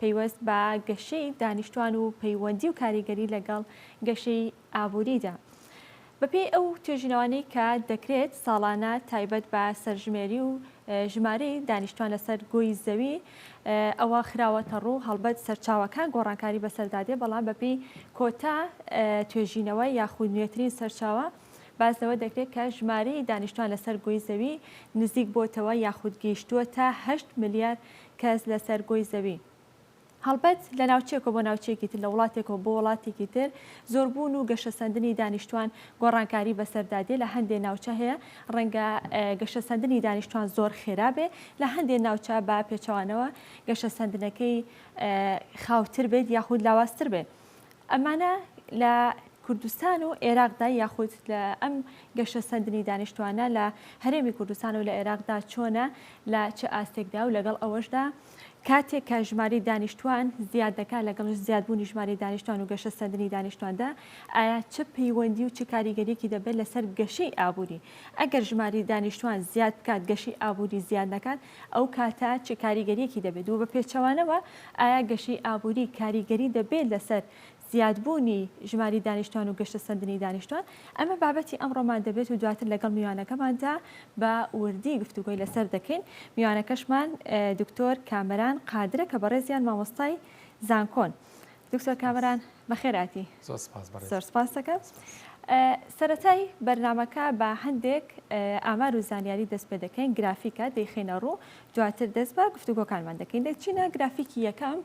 پەیوەست بە گەشەی دانیشتوان و پەیوەندی و کاریگەری لەگەڵ گەشەی ئابووریدا. بەپێی ئەو توێژینەوانەی کە دەکرێت ساڵانە تایبەت بە سەرژمێری و ژمارەی دانیشتوان لەسەر گۆی زەوی ئەوە خراوەتەڕوو، هەڵبەت سەرچاوەکان گۆڕانکاری بەسەردادێ بەڵام بەپێی کۆتا توێژینەوە یاخود نوێترین سەرچاوە باس لەوە دەکرێت کە ژمارەی دانیشتوان لەسەر گۆی زەوی نزیک بۆتەوە یاخود گەیشتووەتە هەشت ملیار کەس لەسەر گۆی زەوی هەڵبەت لە ناوچەیەکەوە بۆ ناوچەیەکی تر، لە وڵاتێکەوە بۆ وڵاتێکی تر، زۆربوون و گەشەسەندنی دانیشتوان گۆڕانکاری بەسەردا دێ، لە هەندێ ناوچە هەیە ڕەنگە گەشەسەندنی دانیشتوان زۆر خێرا بێ، لە هەندێ ناوچە بە پێچەوانەوە گەشەسەندنەکەی خاوتر بێت یاخود لاوازتر بێت. ئەمانە لە کوردستان و عێراقدا یاخود لە ئەم گەشە سەندنی دانیشتوانە لە هەرێمی کوردستان و لە عێراقدا چۆنە لە چ ئاستێکدا و لەگەڵ ئەوەشدا کاتێک کە ژماری دانیشتوان زیاد دەکات لەگەڵ زیادبوونی ژماری دانیشتوان و گەشە سەندنی دانیشتواندا ئایا چ پەیوەندی و چ کاریگەریەکی دەبێت لەسەر گەشەی ئابووری ئەگەر ژماری دانیشتوان زیاد بکات گەشی ئابووری زیاد نکات ئەو کاتە چ کاریگەرییەکی دەبێت و بە پێچەوانەوە ئایا گەشەی ئابووری کاریگەری دەبێت لەسەر زیادبوونی ژماری دانیشتوان و گەشەسەندنی دانیشتوان؟ ئەمە بابەتی ئەمڕۆمان دەبێت و دواتر لەگەڵ میوانەکەماندا بە وردی گفتوگۆی لەسەر دەکەین. میوانەکەشمان دکتۆر کامەران قادرە کە بەڕێزیان مامۆستای زانکۆن. دکتۆر کامەران بەخێرهاتی. زۆر سپاس بەڕێز. زۆر سپاست دەکەم. سەرەتای بەرنامەکە بە هەندێک ئامار و زانیاری دەست پێ دەکەین گرافیکە دەیخینە ڕوو دواتر دەست بە گفتوگۆکانمان دەکەین دەچینە گرافیکی یەکەم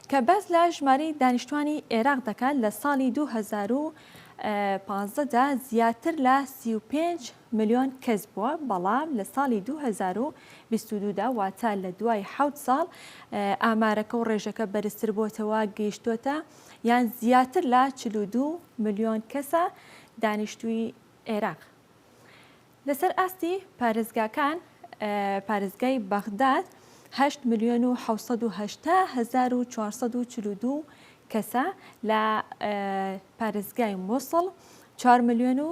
کە باس لە ژماری دانیشتوانی عێراق دەکات لە ساڵی 2015دا زیاتر لە 35 ملیۆن کەس بووە، بەڵام لە ساڵی دوو هەزار و بیست و دوو دا، واتە لە دوای حەوت ساڵ، ئامارەکە و ڕێژەکە بەرزتر بۆتەوە، گەیشتۆتە یان زیاتر لە چل و دوو ملیۆن کەسە دانیشتووی عێراق. لەسەر ئاستی پارێزگاکان، پارێزگای بەغداد هەشت ملیۆن و حەوت سەد و هەشتا هەزار و چوار سەد و چل و دوو کەسە، لە پارێزگای موسڵ چوار ملیۆن و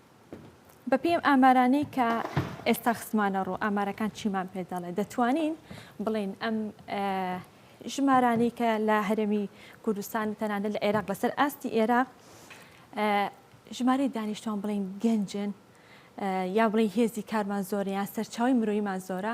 بەپێی ئەم ئامارانەی کە ئێستا خستمانە ڕوو ئامارەکان چیمان پێ دەڵێ دەتوانین بڵین ئەم ژمارانەی کە لە هەرێمی کوردستان و تەنانە لە عێراق لەسەر ئاستی ئێراق ژمارەی دانیشتوان بڵین گەنجن یا بڵی هێزی کارمان زۆریان سەرچاوی مرۆیمان زۆرە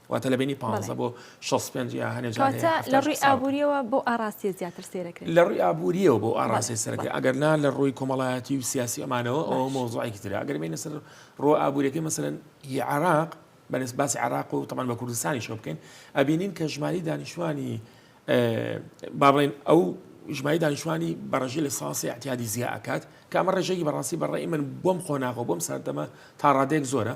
واتە لە بینی پانزە بۆ شەست و پێنج یا هەنێ جارێ کەواتە لە ڕووی ئابووریەوە بۆ ئاڕاستیە زیاتر سێرەکرێت لە ڕووی ئابووریەوە بۆ ئاڕاستێ سەرەکە ئەگەر نا لە ڕووی کۆمەڵایەتی و سیاسی ئەمانەوە ئەو مۆزوعێکی ترە ئەگەر بینە سەر ڕۆ ئابووریەکەی مەسەرەن هی عراق بەنس باسی عراق و تەمان بە کوردستانی شۆ بکەین ئەبینین کە ژماری دانیشتوانی بابڵین ئەو ژمای دانیشتوانی بەڕژی لە ساسی احتیادی زیاکات کامە ڕێژێکی بەڕاستی بەڕێ من بۆم قۆناغەوە بۆم سەردەمە تا ڕادێک زۆرە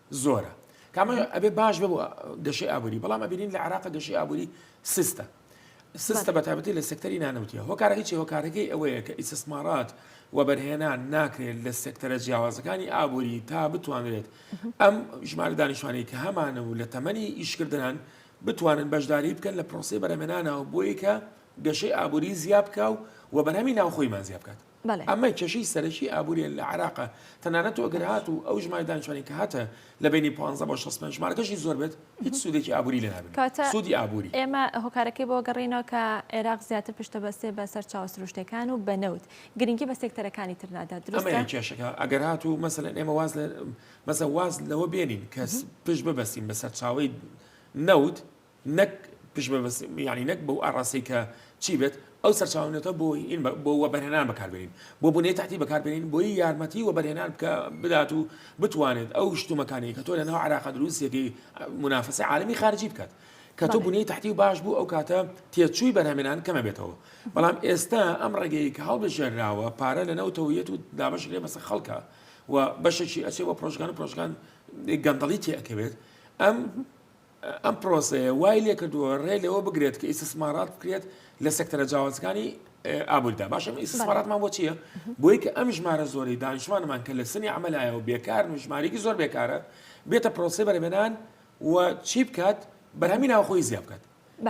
زۆرە کامە ئەبێ باش بە گەشەی ئابووری بەڵام ئەبینین لە عراق گەشەی ئابووری سستە سستە بە تابەتی لە سەکتەری نانەوتیە هۆکارەکەی چی هۆکارەکەی ئەوەیە کە ئیسسمارات و بەرهێنان ناکرێت لە سەکتەرە جیاوازەکانی ئابووری تا بتوانرێت ئەم ژمارە دانیشتوانی کە هەمانە و لە تەمەنی ئیشکردنان بتوانن بەشداری بکەن لە پرۆسی بەرەمێنانەوە بۆیکە گەشەی ئابووری زیابکە و و بەرهەمی ناوخۆیمان زیابکات ئەمە کێشەی سەرەکی ئابووریە لە عێراقا، تەنانەت تۆ گەر هاتوو ئەو ژمارەی دانیشتوانی کە هاتە لە بەینی پانزە بۆ شەست پێنج ژمارەکەشی زۆر بێت هیچ سوودێکی ئابووری لێ نابینن، سوودی ئابووری. ئێمە هۆکارەکەی بەوە گەڕێینەوە کە عێراق زیاتر پشت دەبەستێ بە سەرچاوە سروشتیەکان و بە نەوت، گرنگی بە سێکتەرەکانی تر نادات، دروستە؟ ئەمەیە کێشەکە، ئەگەر هاتوو مەسەلەن ئێمە واز لە مەسەلەن واز لەوە بێنین کە پشت ببەستین بە سەرچاوەی نەوت، نەک پشت بە بەس یانی نەک بەو ئاڕاستەی کە چی بێت ئەو سەرچاوە نەوتە بۆ ئین بۆ وەبەرهێنان بەکاربێنین بۆ بنەی تاتی بەکاربێنین بۆی یارمەتی وەبەرهێنان بکە بدات و بتوانێت ئەو شتومەکانی کە تۆ لە ناو عراق دروستێکی منافەسە عالمی خارجی بکات کە تۆ بنەی تحتی و باش بوو ئەو کاتە تێچووی بەرهەمێنان کەمە بێتەوە بەڵام ئێستا ئەم ڕێگەی کە هەڵبژێنراوە پارە لە نەوتەوەیەت و دابش لێ بەسە خەڵکە و بەشێکی ئەچێ بە پرۆژگان و پرۆژگان گەندەڵی تێکەوێت ئەم ئەم پرۆسەیە وای لێکردووە ڕێ لەوە بگرێت کە ئیسسمارات بکرێت لە سەکتەرە جیاوازەکانی ئابووردا باشە ئیسسماراتمان بۆ چییە بۆی کە ئەم ژمارە زۆری دانیشتوانمان کە لە سنی ئەمەلایە و بێکار و ژمارێکی زۆر بێکارە بێتە پرۆسی بەرەێنان و چی بکات بەرهەمی ناوخۆی زیاد بکات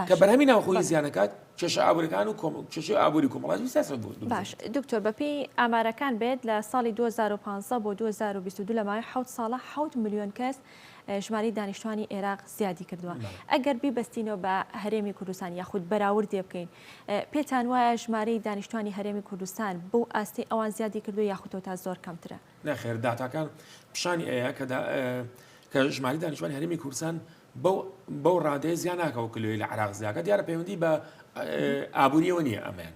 کە بەرهەمی ناوخۆی زیانەکات کێشە ئابورەکان و کێشی ئابووری کۆمەڵاتی سیاست بوو باش دکتۆر بەپی ئامارەکان بێت لە ساڵی 2015 بۆ 2022 لەمای حوت ساڵە حوت میلیۆن کەس ژمارەی دانیشتوانی ئێراق زیادی کردووە ئەگەر بیبستینەوە بە هەرێمی کوردستان یاخود بەراوردێ بکەین پێتان وایە ژمارەی دانیشتوانی هەرێمی کوردستان بۆ ئاستی ئەوان زیادی کردو یاخوتۆ تا زۆر کەمترە نەخێر داتاکان پیشانی ئەیە کە کە ژماری دانیشتوانی هەرێمی کوردستان بەو ڕادەیە زیان ناکەەوە کلوی لە عراق زیاکە دیارە پەیوەندی بە ئابووریەوە نییە ئەمەیان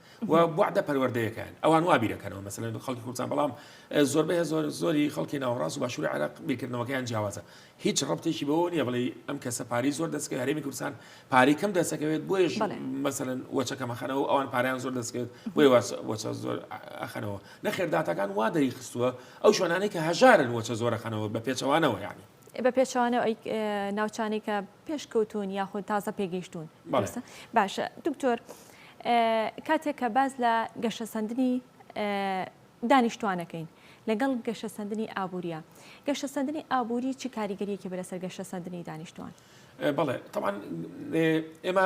و بوعدە پەروەردەیەکەن ئەوان وا بیرەکەنەوە مەسەن خەڵکی کوردستان بەڵام زۆربەی زۆر زۆری خەڵکی ناوەڕاست و باشووری عراق بیرکردنەوەکەیان جیاوازە هیچ ڕبتێکی بەوە نیە بڵێ ئەم کەسە پاری زۆر دەستکە هەرێمی کوردستان پاری کەم دەسەکەوێت بۆیش مەسەن وەچەکەمەخەنەوە ئەوان پاریان زۆر دەستکەوێت بۆی وەچە زۆر ئەخەنەوە نەخێرداتەکان وا دەری خستووە ئەو شوێنانەی کە هەژارن وەچە زۆرەخەنەوە بە پێچەوانەوە یعنی بە پێچەوانەوە ئەی ناوچانەی کە پێشکەوتون یاخود تازە پێگەیشتون باشە دکتۆر کاتێک کە باز لە گەشەسەندنی دانیشتوانەکەین لەگەڵ گەشەسەندنی ئابووریە گەشەسەندنی ئابووری چ کاریگەریەکی بەرەسەر گەشەسەندنی دانیشتوان بڵێ تاوان ئێمە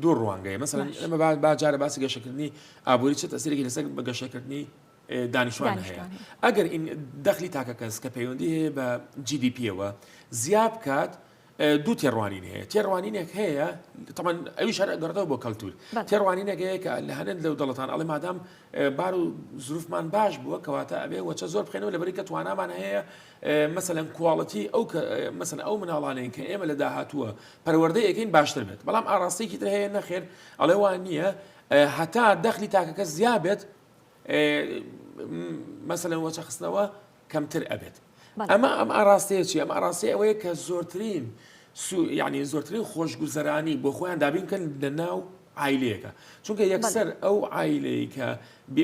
دوو ڕوانگەی مەسەن ئەمە باجارە باسی گەشەکردنی ئابووری چ تەسیرێکی لەسەر بە گەشەکردنی دانیشتوان هەیە ئەگەر دەخلی تاکەکەس کە پەیوەندی هەیە بە GDPەوە زیاد بکات دوو تێڕوانین هەیە تێڕوانینێک هەیە تەمان ئەوی شار گەڕێتەوە بۆ کەلتور تێڕوانینێک هەیە کە لە هەنێن لەو دەڵتان ئەڵێ مادام بار و زروفمان باش بووە کەواتە ئەبێ وەچە زۆر بخێنەوە لەبەری کە توانامان هەیە مەسەەن کوواڵەتی ئەو مەسن ئەو مناڵانەیە کە ئێمە لە داهاتووە پەروەردەی یەکەین باشتر بێت بەڵام ئاراستێکی تر هەیە نەخێر ئەڵێ وان نییە هەتا دەخلی تاکەکە زیابێت مەسەلەن وەچە خستنەوە کەمتر ئەبێت ئەمە ئەم ئاراستەیە چی ئەم ئاراستەیە ئەوەیە کە زۆرترین یعنی زۆرترین خۆشگوزەرانی بۆ خۆیان دابین کەن لە ناو ئایلەیەەکە چونکە یەکسەر ئەو ئایلەیە کە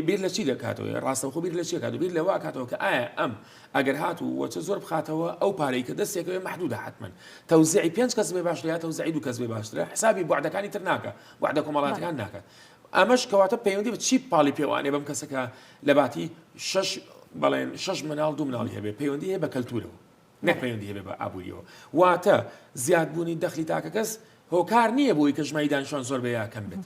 بیر لە چی دەکاتەوە ڕاستەخۆ بیر لە چێکات و بیر لەوا کاتەوە کە ئایا ئەم ئەگەر هات و وەچە زۆر بخاتەوە ئەو پارەی کە دەستێکەوە محدودە حتمما تەوزعی پێنج کەس بێ باشتر یا تەوزعی دوو کەس بێ باشترە حسابی بەعدەکانی تر ناکە بەعدە کۆمەڵاتەکان ناکە ئەمەش کەواتە پەیوەندی بە چی پاڵی پێوانێ بەم کەسە کە لە باتی شش بەڵێن شش مناڵ دوو مناڵی هەبێ پەیوەندی هەیە بە کەلتورەوە نەک پەیوەندی هەبێ بە ئابووریەوە واتە زیادبوونی دەخلی تاکە کەس هۆکار نییە بۆی کە ژمای دانیشان زۆر بە یاکەم بێت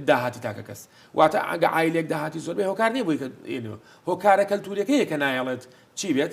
داهاتی تاکە کەس واتە ئەگە ئایلێک داهاتی زۆربەی هۆکار نییە بۆی هۆکارە کەلتورەکەیە کە نایەڵێت چی بێت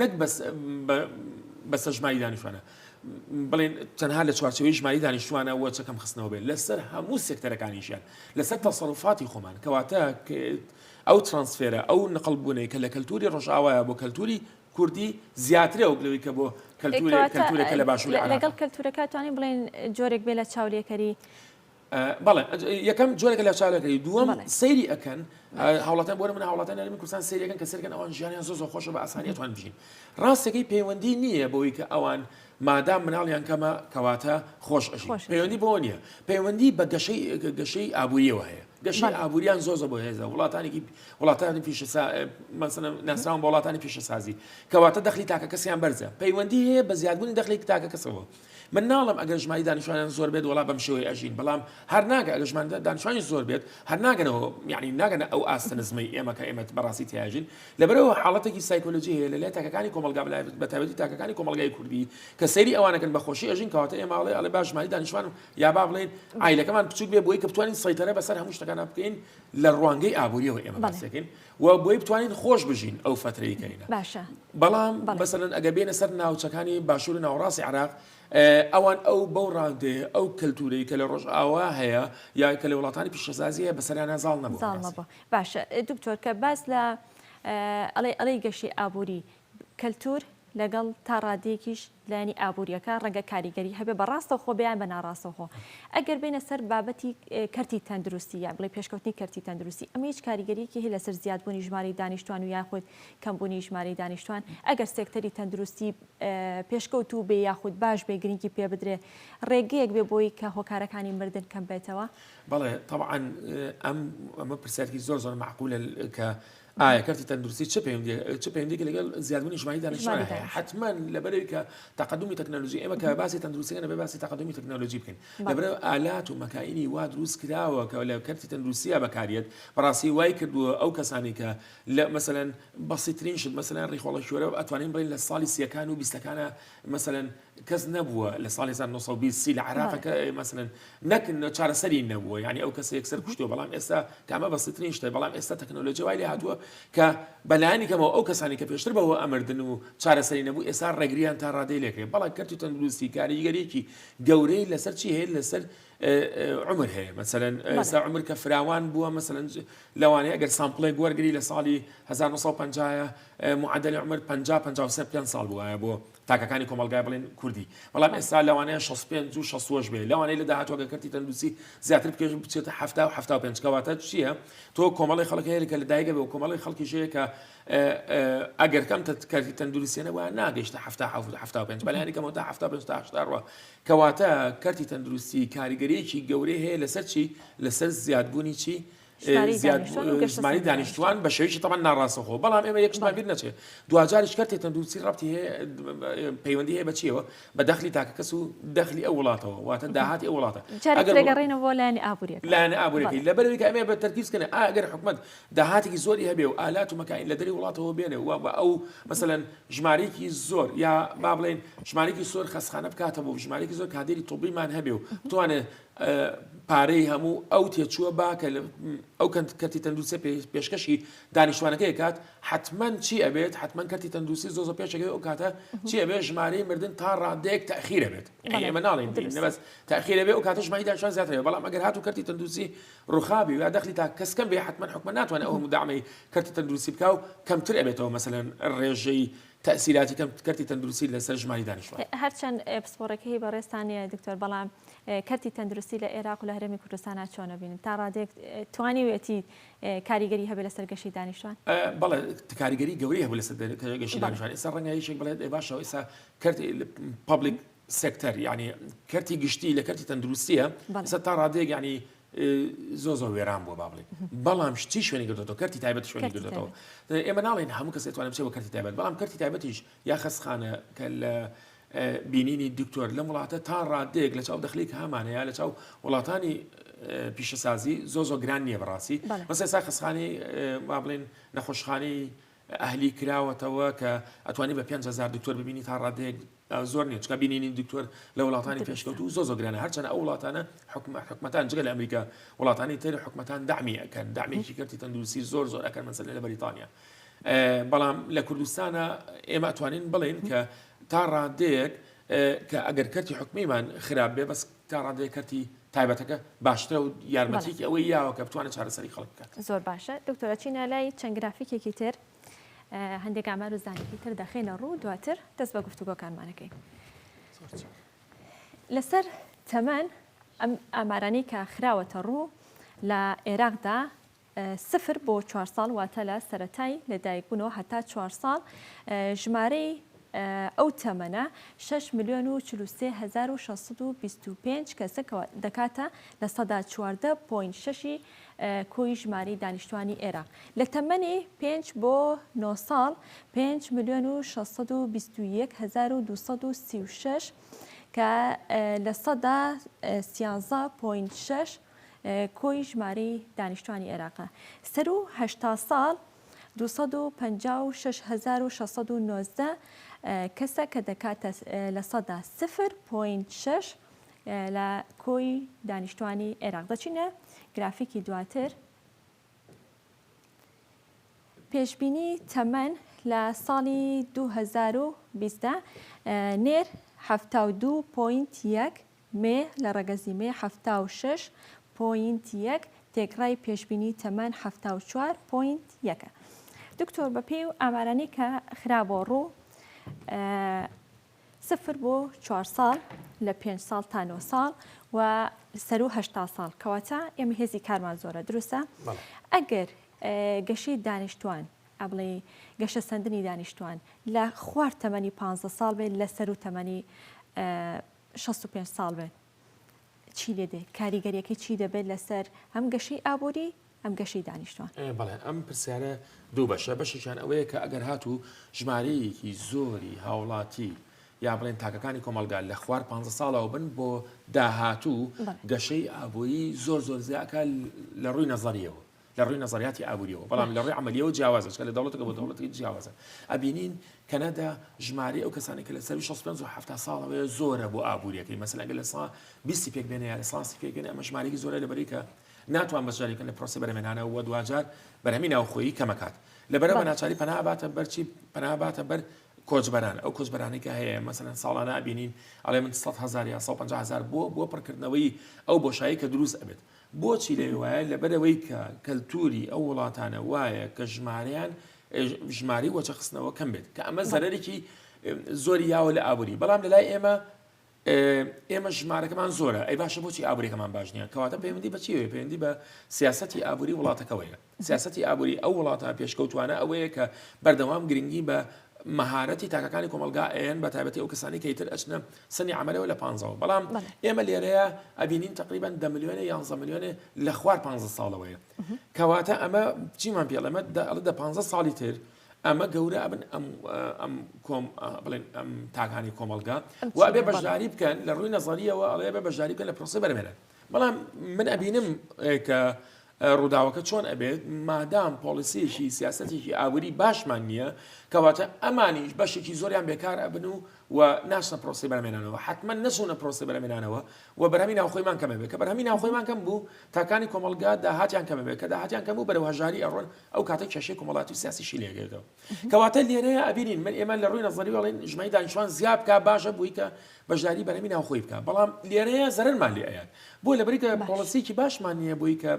نەک بەس بەسە ژماری دانیشتوانە بڵێن تەنها لە چوارچەوەی ژماری دانیشتوانە وە چەکەم خستنەوە بێت لەسەر هەموو سێکتەرەکانیشیان لەسەر تەسەڕفاتی خۆمان کەواتە ئەو ترانسفێرە ئەو نقل بوونەی کە لە کەلتوری ڕۆژاوایە بۆ کەلتوری کوردی زیاترە و بلەوەی کە بۆ کەلتورەکە لە باشوور لەگەڵ کەلتورەکە توانین بڵێن جۆرێک بێ لە چاولێکەری بەڵێ یەکەم جۆرەکە لە چاالەکەی دووەم سەیری ئەەکەن هاوڵاتان بۆرە من هاوڵاتان نەرمی کوردستان سریەکەن کە سەرکەن ئەوان ژیانیان زۆ خۆشە بە ئاسانیتوان بژین ڕاستەکەی پەیوەندی نییە بۆی کە ئەوان مادام مناڵیان کەمە کەواتە خۆش ئەژی پەیوەندی بۆ نییە پەیوەندی بە گەشەی گەشەی ئابووریەوە هەیە گەشی ئابووریان زۆزە بۆ هێزە وڵاتانێکی وڵاتانی پیشە ناسراوان بە وڵاتانی پیشەسازی کەواتە دەخلی تاکە کەسیان بەرزە پەیوەندی هەیە بە زیادبوونی دەخلی تاکە کەسەوە من ناڵێم ئەگەر ژماری دانیشتوانیان زۆر بێت وەڵا بەم شێوەی ئەژین بەڵام هەر ناگە ئەگە ژمان دانیشتوانی زۆر بێت هەر ناگەنەوە یعنی ناگەنە ئەو ئاستە نزمەی ئێمە کە ئێمە بەڕاستی تیاژین لەبەرەوە حاڵەتێکی سایکۆلۆژی هەیە لەلای تاکەکانی کۆمەڵگا بە تایبەتی تاکەکانی کۆمەڵگای کوردی کە سەیری ئەوانەکەن بە خۆشی ئەژین کەواتە ئێمە ئەڵێ ئەڵێ باش ژماری دانیشتوان یا با بڵێن ئایلەکەمان بچوک بێ بۆی کە بتوانین سەیتەرە بەسەر هەموو شتەکانە بکەین لە ڕوانگەی ئابووریەوە ئێمە باسەکەین و بۆی بتوانین خۆش بژین ئەو فەترەی کەینە باشە بەڵام بەسەرن ئەگە بێنە سەر ناوچەکانی باشوور ناوڕاستی عراق ئەوان ئەو بەو ڕادێ ئەو کەلتوری کە لە ڕۆژ ئاوا هەیە یا کە لە وڵاتانی پیشەسازیە بەسەریانە زاڵ نەبوو باشە دکتۆر کە باس لە ئەڵێ ئەڵی گەشی ئابووری کەلتور لەگەڵ تا ڕادەیەکیش لایەنی ئابوورییەکە ڕەنگە کاریگەری هەبێ بە ڕاستەوخۆ بێ یان بە ناڕاستەوخۆ. ئەگەر بێینە سەر بابەتی کەرتی تەندروستی یان بڵێی پێشکەوتنی کەرتی تەندروستی، ئەمە هیچ کاریگەرییەکی هەیە لەسەر زیادبوونی ژمارەی دانیشتووان و یاخود کەمبوونی ژمارەی دانیشتووان؟ ئەگەر سێکتەری تەندروستی پێشکەوتوو بێ یاخود باش بێ گرنگی پێ بدرێ ڕێگەیەک بێ بۆی کە هۆکارەکانی مردن کەم بێتەوە؟ بەڵێ تەبعەن ئەم ئەمە پرسیارێکی زۆر زۆر مەعقولە کە ئایا کەرتی تەندروستی چ پەیوەندییەک چ پەیوەندییەکی لەگەڵ زیادبوونی ژماری دانیشتووان هەیە؟ ئیژماری حەتمەن دانیشتوان. لەبەرئەوەی کە تەقەدومی تەکنەلۆژی ئێمە کە باسی تەندروستی دەکەین دەبێت باسی تەقەدومی تەکنەلۆژی بکەین بەڵێ. لەبەرئەوە ئالات و مەکاینی وا دروست کراوە کە لە کەرتی تەندروستیدا بەکار یەت بەڕاستی وای کردووە ئەو کەسانەی کە لە مەسەلەن بەسیترین شت مەسەلەن ڕیخۆڵە کیۆرە ئەتوانین بڵێین لە ساڵی سییەکان و بیستەکانا مەسەلەن کەس نەبووە لە ساڵی 1920 سی لە عراقەکە بەڵێ. ئێ مەسەلەن نەک نە چارەسەری نەبووە یعنی ئەو کەسە یەکسەر کوشتووە بەڵام ئێستا کە ئەمە بەسیترین شتە بەڵام ئێستا تەکنۆلۆژی وای لێ هاتووە کە بەلایەنی کەمەوە ئەو کەسانی کە پێشتر بەوە ئەمردن و چارەسەری نەبوو ئێستا ڕێگریان تا ڕادەی لێ کرێ بەڵام کەرتی تەندروستی کاریگەریەکی گەورەی لەسەر چی هەیە لەسەر ئێ، ئێ، عمر هەیە مەسەلەن بەڵێ. ئێستا عمر کە فراوان بووە مەسەلەن ج- لەوانەیە ئەگەر سامپڵێک وەرگری لە ساڵی 1950 ە ئێ، معدل عمر 50 53 پێنج ساڵ بووایە بۆ تاکەکانی کۆمەڵگای بڵێن کوردی بەڵام ئێستا لەوانەیە 65 و 66 بێ لەوانەیە لە داهاتوە گە کەرتی تەندوسی زیاتر بکەش بچێتە 70 و 75 کەواتە چییە تۆ کۆمەڵی خەڵک هەیە کە لە دایگە بێ و کۆمەڵی خەڵکی ژەیە کە ئەگەر کەم کەرتی تەندروستیانە وە ناگەشتە 75 بەلانی کەمەوە تا 1970ەوە کەواتە کەرتی تەندروستی کاریگەریەکی گەورەی هەیە لەسەر چی لەسەر زیادبوونی چی ژماری دانیشتوان بە شێوەیەکی تەمان ناڕاستەخۆ بەڵام ئێمە یەکشمان بیر نەچێت دواجاریش کەرتێ تەندروستی ڕەتی هەیە پەیوەندی هەیە بەچیەوە بە دەخلی تاکە کەس و دەخلی ئەو وڵاتەوە واتە داهاتی ئەو وڵاتە ئەگەڕێنە بۆ لایەنی ئابووری لایەنە ئابووری لە بەرەوەی ئەمێ بە تەرکیزکەن ئەگەر حکومت داهاتێکی زۆری هەبێ و ئالات و مەکین لە دەری وڵاتەوە بێنێ و بە ئەو مەسەەن ژمارێکی زۆر یا با بڵێن ژمارێکی سۆر خەسخانە بکاتە بۆ ژمارێکی زۆر کادێری تۆبیمان هەبێ و توانێت پارەی هەموو ئەو تێچووە با کە ئەو کەرتی تەندروستی پێشکەشی دانیشتوانەکەی کات حتمما چی ئەبێت حتمما کەرتی تەندروستی زۆزە پێشەکەی ئەو کاتە چی ئەبێت ژمارەی مردن تا ڕادێک تاخیرە بێت ئێمە ناڵین بەس تاخیرە بێ ئەو کاتە ژمای داشان زیاترێ بەڵام ئەگەر هاتو کەرتی تەندروستی ڕوخابی یا دەخلی تا کەسکەم بێ حتمما حکومە ناتوانێت ئەو مدامەی کەرتی تەندروستی بکە و کەمتر ئەبێتەوە مەسەن ڕێژەی تەئسیراتی کەم کەرتی تەندروستی لە سەر ژماری دانیشتوان. هەر چەند پسپۆڕێکهی بەڕێزتان نیە دکتۆر بەڵام کەرتی تەندروستی لە ئێراق و لە هەرێمی کوردستانا چۆن ئەبینن تا ڕادێک توانیوێتی کاریگەری هەبێ لەسەر گەشی دانیشتوان؟ بەڵێ کاریگەری گەورەی هەبوو لەسەر گەشی دانیشتوان ئێستا ڕەنگە یەکێک بڵێت ئێ باشە ئێستا کەرت پابلیک سێکتەر یعنی کەرتی گشتی لە کەرتی تەندروستیە ئێستا تا ڕادێک یعنی زۆر زۆر وێران بووە با بڵێ بەڵام شتی شوێنی گردۆ کەرتی تایبەت شوێنی گردێتەوە ئێمە ناڵێن هەموو کەس توانم چێ بە کەرتی تایبەت بەڵام کەرتی تایبەتیش یا خەسخانە کە لە بینینی دکتۆر لەم وڵاتە تا ڕادێک لە چاو دەخلیک هەمانەیە لە چاو وڵاتانی پیشەسازی زۆ زۆ گران نییە بەڕاستی مەسێ سا خەسخانی با بڵێن نەخۆشخانی ئەهلی کراوەتەوە کە ئەتوانی بە پێنج هەزار دکتۆر ببینی تا ڕادەیەک زۆر نیە چکە بینینی دکتۆر لە وڵاتانی پێشکەوتو زۆ زۆگرانە هەرچەنە ئەو وڵاتانە حکومە حکومەتان جگە لە ئەمریکا وڵاتانی تر حکومەتان دامی ئەەکەن دامێکی کردی تەندروسی زۆر زۆر ئەەکەن مەسەر لە بەریتانیا بەڵام لە کوردستانە ئێمە توانین بڵێن کە تا ڕادەیەک کە ئەگەر کەرتی حکومیمان خراپ بێ بەس تا ڕادەیەک کەرتی تایبەتەکە باشترە و یارمەتیەکی ئەوەی یاوە کە بتوانێت چارەسەری خەڵک بکات. زۆر باشە دکتۆر ئەچینە لای چەند گرافیکێکی تر هەندێک ئامار و زانیاری تر دەخێنە ڕوو دواتر دەست بە گفتوگۆکانمانەکەین لەسەر تەمەن ئەم ئامارانی کە خراوەتە ڕوو لە عێراقدا سفر بۆ چوار ساڵ واتە لە سەرەتای لەدایکبوونەوە هەتا چوار ساڵ ژمارەی ئەو تەمەنە شەش ملیۆن و چل و سێ هەزار و شەش سەد و بیست و پێنج کەسە کە دەکاتە لە سەدا چواردە پۆینت شەشی کۆی ژمارەی دانیشتووانی ئێراق لە تەمەنی پێنج بۆ نۆ ساڵ پێنج ملیۆن و شەش سەد و بیست و یەک هەزار و دوو سەد و سی و شەش کە لە سەدا سیانزە پۆینت شەش کۆی ژمارەی دانیشتوانی عێراقە سەر و هەشتا ساڵ دوو سەد و پەنجا و شەش هەزار و شەش سەد و نۆزدە کەسە کە دەکاتە لە سەدا سفر پۆینت شەش لە کۆی دانیشتوانی عێراق دەچینە گرافیکی دواتر پێشبینی تەمەن لە ساڵی 2020 نێر 72 پوینت یەک مێ، لە ڕەگەزی مێ حەفتا و شەش پۆینت یەک، تێکڕای پێشبینی تەمەن حەفتا و چوار پۆینت یەک ە. دکتۆر بەپێی و ئامارانی کە خرابۆ ڕوو سفر بۆ چوار ساڵ لە پێنج ساڵ تا نۆ ساڵ و سەرو هەشتا ساڵ کەواتە ئێمە هێزی کارمان زۆرە دروستە ئەگەر گەشەی دانیشتوان ئەبڵێ گەشە سندنی دانیشتوان لە خوار تەمەنی پ ساڵ بێت لە سەرو تەمەنی شەست و پێنج ساڵ بێت چی لێ دێ کاریگەریەکەی چی دەبێت لەسەر هەم گەشەی ئابووری ئەم گەشەی دانیشتوان؟ بەڵێ ئەم پرسیارە دوو بەشە بەشێکیان ئەوەیە کە ئەگەر هاتوو ژمارەیەکی زۆری هاوڵاتی یا بڵێن تاکەکانی کۆمەلگا لە خوار پ ساڵەوە بن بۆ داهاتوو گەشەی ئابووری زۆر زۆر زیاکە لە ڕووی نەزەریەوە لە ڕووی نەزەریاتی ئابووریەوە بەڵام لە ڕووی عملیەوە جیاوازە چکە لە دەوڵەتەکە بۆ دەوڵەتی جیاوازە ئەبینین کەنەدا ژماری ئەو کەسانی کە لە سەر 65 و 70 ساڵەوەی زۆرە بۆ ئابووریەکەی مەسەلەگە لە سا بیستی پێک بێنە یا لە ساسی پێک بێنە ئەمە ژمارەی زۆرە لە بەریکە ناتوان بەشارێکە لە پرۆسی بەرەمێنانە و دواجار بەرەمی ناوخۆیی کەمەکات لەبەرەوە ناچاری پەناباتە بەرچی پەناباتە بەر کۆچبەران ئەو کۆچبەرانی کە هەیە مەسەن ساڵانە بینین ئەڵێ من 100 هزار یا 150 هزار بۆ بۆ پڕکردنەوەی ئەو بۆشایی کە دروست ئەبێت بۆچی لێ وایە؟ لەبەرئەوەی کە کەلتووری ئەو وڵاتانە وایە کە ژمارەیان ژماری وەچەخستنەوە کەم بێت کە ئەمە زەرێکی زۆری یاوە لە ئابووری بەڵام لەلای ئێمە ئێمە ژمارەکەمان زۆرە ئەی باشە بۆچی ئابوورێکەکەمان باش نییە کەواتە پەیوەندی بەچیەوەی پەیوەندی بە سیاستی ئابووری وڵاتەکەەوەیە سیاسەتی ئابووری ئەو وڵاتە پێشکەوتوانە ئەوەیە کە بەردەوام گرنگی بە مەهارەتی تاکەکانی کۆمەڵگا ئەیەن بە تایبەتی ئەو کەسانی کە ئیتر ئەچنە سنی عەمەلەوە لە پانزەوە بەڵام ئێمە لێرەیە ئەبینین تقریبا دە ملیۆنێ یانزە ملیۆنێ لە خوار پانزە ساڵەوەیە کەواتە ئەمە چیمان پێڵێ ئەمە دە دە پانزە ساڵی تر ئەمە گەورە ئەبن ئەم ئەم کۆم بڵێن ئەم تاکانی کۆمەڵگا و ئەبێ بەشداری بکەن لە ڕووی نەزەریەوە ئەڵێ بە بەشداری بکەن لە پرۆسی بەرەمێنن بەڵام من ئەبینم کە ڕووداوەکە چۆن ئەبێت مادام پۆلیسیەکی سیاستێکی ئابووری باشمان نییە کەواتە ئەمانیش بەشێکی زۆریان بێکار ئەبن و و ناشنە پرۆسی بەرمێنانەوە حتممە نەچوونە پرۆسی بەرمێنانەوە و بەرهمی ناوخۆیمان کەمە بێت کە بەرهمی ناوخۆیمان کەم بوو تاکانی کۆمەلگا داهاتیان کەمە بێت کە داهاتیان کەم و بەرەو هەژاری ئەڕۆن ئەو کاتە کێشەی کومەڵاتی و سیاسیشی لێگەێتەوە کەواتە لێرەیە ئەبینین من ئێمە لە ڕووی نەزەری وڵین ژمای دانیشتوان زیاد بکە باشە بووی کە بەشداری بەرەمی ناوخۆی بکە بەڵام لێرەیە زەرمان لێ ئەیات بۆ لە بریکە پۆڵسیکی باشمان نییە بۆی کە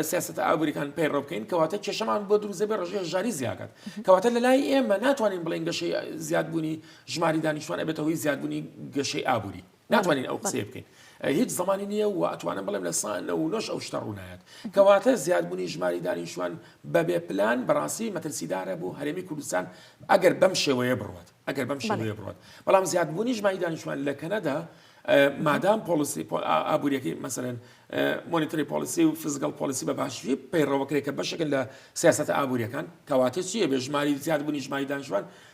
سیاست ئابووریەکان پەیڕۆ بکەین کەواتە کێشەمان بۆ دروزە بێ ڕژێ ژاری زیاکات کەواتە لە لای ئێمە ناتوانین بڵێن گەشەی زیادبوونی ژماری دانیشتوان ئەبێتەوەی زیادبوونی گەشەی ئابووری ناتوانین ئەو قسەیە بکەین هیچ زمانی نییە و ئەتوانم بڵێم لە سا نە و نۆش ئەو شتە ڕوونایەت کەواتە زیادبوونی ژماری دانیشتوان بەبێ پلان بەڕاستی مەترسیدارە بۆ هەرێمی کوردستان ئەگەر بەم شێوەیە بڕوات ئەگەر بەم شێوەیە بڕات بەڵام زیادبوونی ژماری دانیشتوان لە کەنەدا مادام پۆلیسی ئابوووریەکەی مەسەرەن مۆنیتری پۆلیسی و فزگەڵ پۆلیسی بە باشی پەیڕەوەکرێکە بەشەکە لە سیاست ئابوووریەکان کەواتە چیە بێژماری زیاد بوونی ژماری دانیشتوان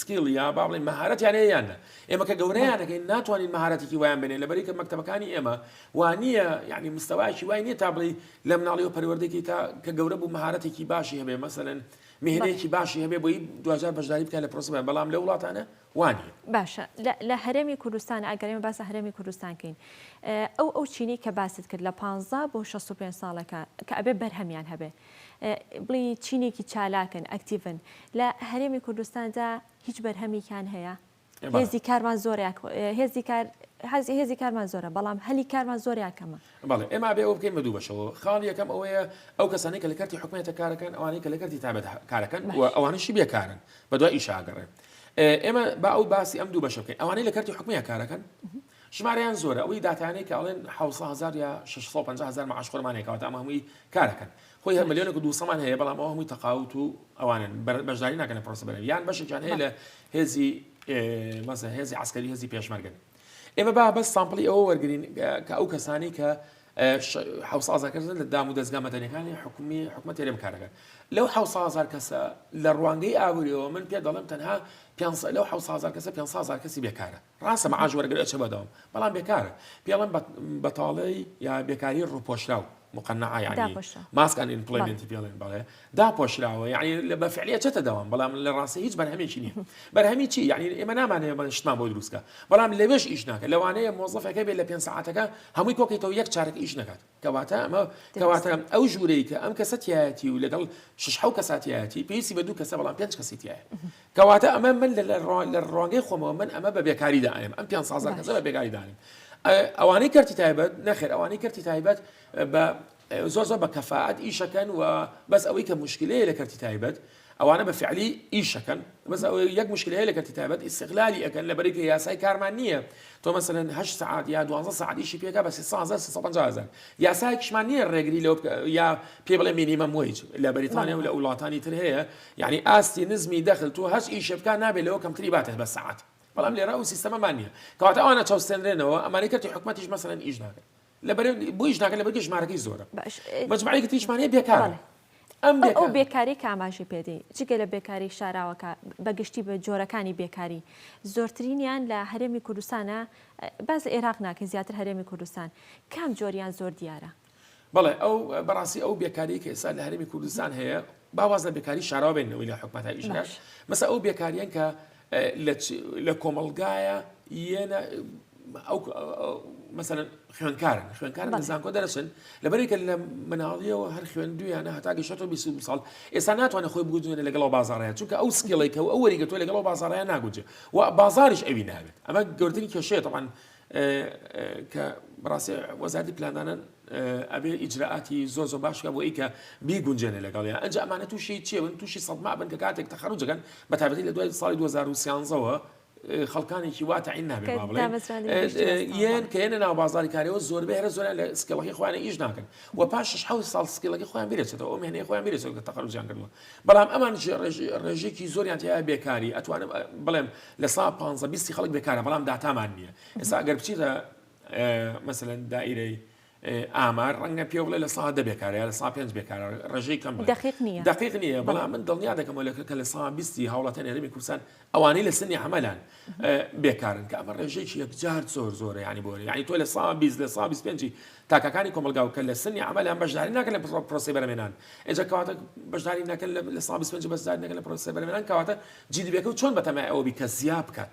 سکیڵ یا با بڵێین مەهارەتیان هەیە یان نە ئێمە کە گەورەیانەکەین ناتوانین مەهارەتێکی وایان بێنێ لەبەری کە مەکتەبەکانی ئێمە وانە یعنی مستەواکی وای نییە تا بڵی لە مناڵی و پەروەردەێکی تا کە گەورە بوو مەهارەتێکی باشی هەبێ مەسەن مهنەیەکی باشی هەبێ بۆی دوجار بەشداری بکە لە پرۆسیبە بەڵام لە وڵاتانە وانی باشە لە هەرێمی کوردستان ئەگەرێمە باسە هەرێمی کوردستانکەین ئەو ئەو چینی کە باست کرد لە 15 بۆ 65 ساڵەکە کە ئەبێ بەرهەمیان هەبێ بڵێی چینێکی چالاکن ئەکتیڤن لە هەرێمی کوردستاندا هیچ بەرهەمێکیان هەیە هێزی کارمان زۆر هێزی کار حەزی هێزی کارمان زۆرە بەڵام هەلی کارمان زۆر یاکەمە بەڵێ ئێمە بێ ئەو بکەین بە دوو بەشەوە خاڵی یەکەم ئەوەیە ئەو کەسانی کە لە کەرتی حکوێتە کارەکەن ئەوانەی کە لە کەرتی تابێت کارەکەن و ئەوانشی بێکارن بە دوای ئیشاگەڕێن ئێمە با ئەو باسی ئەم دوو بەشە بکەین ئەوانەی لە کەرتی حکومیە کارەکەن ژمارەیان زۆرە ئەوەی داتایانەی کە ئەڵێن حەوت سەد هەزار یا شەش سەد و پەنجا هەزار مەعاش خۆرمان هەیە کەواتە ئەمە هەمووی کارەکەن خۆی هەر ملیۆنێک و دووسەمان هەیە بەڵام ئەوە هەمووی تەقاوت و ئەوانن بەر- بەشداری ناکەن لە پرۆسە بەرەوی یان بەشێکیان هەیە لە هێزی ئێ، مەسەن هێزی عەسکەری هێزی پێشمەرگەن ئێمە با بەس سامپڵی ئەوە وەرگرین ئە، کە ئەو کەسانەی کە ئە، ش- حەوت سەد هەزار کەسن لە دام و دەزگا مەدەنیەکانی حکومی حکومەت تێرێ بکاردەکەن لەو حەوت سەد هەزار کەسە لە ڕوانگەی ئابوریەوە من پێت دەڵێم تەنها پێنج سەد لەو حەوت سەد هەزار کەسە پێنج سەد هەزار کەسی بێکارە ڕاستە مەعاش وەرەگرێ ئەچێ بەدەوام بەڵام بێکارە پێڵم بەتاڵی یا بێکاری ڕوپۆشراو مقنعە یعنی داپۆشە. ماسکان ئیمپلۆیمنتی پێڵێن بەڵێ داپۆشراوە یعنی لە بەفعلیە چێتە دەوام بەڵام لە ڕاستی هیچ بەرهەمێکی نییە بەرهەمی چی یعنی ئێمە نامانەیە بە شتمان بۆ دروستکە بەڵام لەوێش ئیش ناکە لەوانەیە مۆزەفەکە بێت لە پێنج ساعتەکە هەمووی کۆکیتەوە یەک چارەک ئیش نەکات کەواتە ئەمە کەواتە ئەو ژوورەی کە ئەم کەسە تایەتی و لەگەڵ شش حو کە ساتیایەتی پێویستی بە دوو کەسە بەڵام پێنج کەسی تایە کەواتە ئەمە من لە ڕوانگەی خۆمەوە من ئەمە بە بێکاری دایم ئەم پێ سازان کەسە بە بێکاری دایم ئەوانەی کەرتی تایبەت نەخێر ئەوانەی کەرتی تایبەت بە زۆر زۆر بە کەفاعات ئیشەکەن و بەس ئەوەی کە مشکلەیە لە کەرتی تایبەت ئەوانە بە فعلی ئیش ئەکەن بەس ئەوەی یەک مشکلە هەیە لە کەرتی تایبەت ئیستغلالی ئەکەن لەبەرەی کە یاسای کارمان نییە تۆ مەسەلەن هەشت سەعات یا دوازدە سەعات ئیشی پێ کا بە سێ سەد هەزار سێ سەد و پەنجا هەزار یاسایەکیشمان نییە ڕێگری لەوە بکە یا پێی بڵێ مینیمەم وەیج لە بەریتانیا و لە وڵاتانی تر هەیە یعنی ئاستی نزمی دەخل تۆ هەر ئیشێ بکا نابێ لەوە کەمتری باتە بە سەعات بەڵام لێرە ئەو سیستەمەمان نییە کەواتە ئەوانە چەوسێنرێنەوە ئەمانەی کەرتی حکومەتیش مەسەلەن ئیش ناکەن لەبەر بۆیش ناکە لەبەر ژمارەکەی زۆرە مەجموعەیەکی تریشمانەیە بێکارە ئەو بێکاری کاماژی پێدەی جگە لە بێکاری شاراوەکە بەگشتی بە جۆرەکانی بێکاری زۆرترینیان لە هەرێمی کوردستانە باز عێراق ناکە زیاتر هەرێمی کوردستان کام جۆریان زۆر دیارە بڵێ ئەو بەڕاستی ئەو بێکاری کە ئێستا لە هەرمی کوردستان هەیە با واز لە بێکاری شاراوە بێنن ئەوەی لە حکومەت هەر ئیشکات باش. مەسە ئەو بێکاریان کە اه، لە چ- لە کۆمەڵگایە یەنە ئەو مەسەن خوێنکارن خوێنکارن لە بەڵێ. زانکۆ دەرەچن لەبەرێکە لە مناڵیەوە هەر خوێندویانە هەتا گەشتۆ 20 ساڵ ئێستا ناتوانێت خۆی بگوزێنە لەگەڵ بازاڕەیە چونکە ئەو سکیڵی کە و ئەو وەریگە تۆ لەگەڵ بازاڕەیە ناگوجێ و بازاریش ئەوی ناوێت ئەمە گەورترین کێشەیە تەمان کە بەڕاستی وەزارتی پلاندانان ئەبێ ئیجرائاتی زۆر زۆر باش بکە بۆ ئەیکە بیگونجێنێ لەگەڵیا ئەجا ئەمانە تووشی چێ بن تووشی سەدما بن کە کاتێک تەخەروج دەکەن بە تایبەتی لە دوای ساڵی 2013 وە خەڵکانێکی وا تەعین نابێ کە با بڵێ دامەزراندنی گشت ئێ- وەستان بە. یەن کە یەنە ناو بازاری کارەوە زۆربەی هەرە زۆریان لە سکیڵەکەی خۆیان ئیش ناکەن و پاش شەش حەوت ساڵ سکیڵەکەی خۆیان بیرەچێتەوە ئەو مێهنەی خۆیان بیرەچێتەوە کە تەخەروجیان کردووە بەڵام ئەمان ژێ ڕێژ- ڕێژەیەکی زۆریان تیایە بێکاری ئەتوانم ئە، بڵێم لە سا پانزە بیستی خەڵک بێکارە بەڵام داتامان نییە ئێستا ئەگەر بچیتە مەسەلەن دائیرەی ئامار ڕەنگە پێ بڵێ لە سا دە بێکارە یا لە سا پێنج بێکارە ڕێژەی کەم دقیق نییە دقیق نییە بەڵام من دڵنیا دەکەمەوە لە کە لە سا بیستی هاوڵاتە نێرمی کوردستان ئەوانەی لە سنی عملان بێکارن کە ئەمە ڕێژێکی یەکجار زۆر زۆرە ینی بۆ ینی تۆ لە سا بیست لە سا پێنج تاکەکانی کۆمەلگا و کە لە سنی عملان بەشداری ناکەن لە پڕۆ پرۆسی بەرمێنان ئێجا کەواتە بەشداری ناکەن لە سا پێنج بەشداری نەکەن لە پرۆسی بەرمێنان کەواتە جیدبێکە و چۆن بەتەمای ئەوەبی کە زیا بکات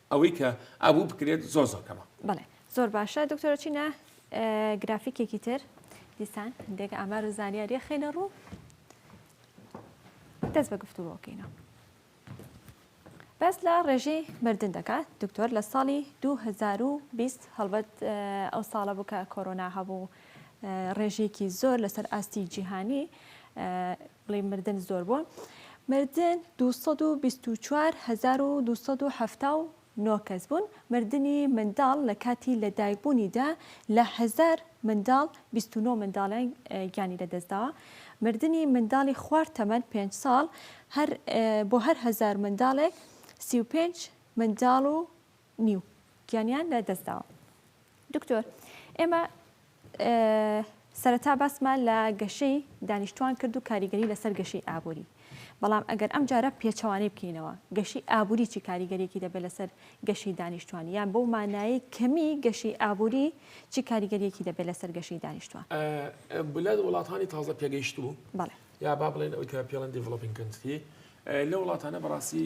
ئەوەی کە ئەبوو بکرێت زۆر زۆر کەمە. بەڵێ زۆر باشە دکتۆرە چینە گرافیکێکی تر دیسان هەندێک ئامار و زانیاریە خینە ڕوو دەست بە گفتوگۆکەینەوە بەس لە ڕێژی مردن دەکات دکتۆر لە ساڵی 2020 هەڵبەت ئەو ساڵە بوو کە کۆرۆنا هەبوو ڕێژێکی زۆر لەسەر ئاستی جیهانی بڵێی مردن زۆر بووە مردن دوو سەد و بیست و چوار هەزار و دوو سەد و حەفتا و نۆ کەس بوون مردنی منداڵ لە کاتی لە دایک بوونیدا لە هەزار منداڵ بیست و نۆ منداڵیان گیانی لە دەستداوە مردنی منداڵی خوار تەمەن پێنج ساڵ هەر بۆ هەر هەزار منداڵێک سی و پێنج منداڵ و نیو گیانیان لە دەست داوە. دکتۆر ئێمە سەرەتا باسمان لە گەشەی دانیشتوان کرد و کاریگەری لەسەر گەشەی ئابووری بەڵام ئەگەر ئەم جارە پێچەوانەی بکەینەوە گەشەی ئابووری چی کاریگەریەکی دەبێت لەسەر گەشەی دانیشتوان یان بەو مانایی کەمی گەشەی ئابووری چی کاریگەریەکی دەبێت لەسەر گەشەی دانیشتوان بلاد وڵاتانی تازە پێگەیشتوو یا با بڵێن ئەوی کە پێڵەن دیڤڵۆپینگ کەنتری لە وڵاتانە بەڕاستی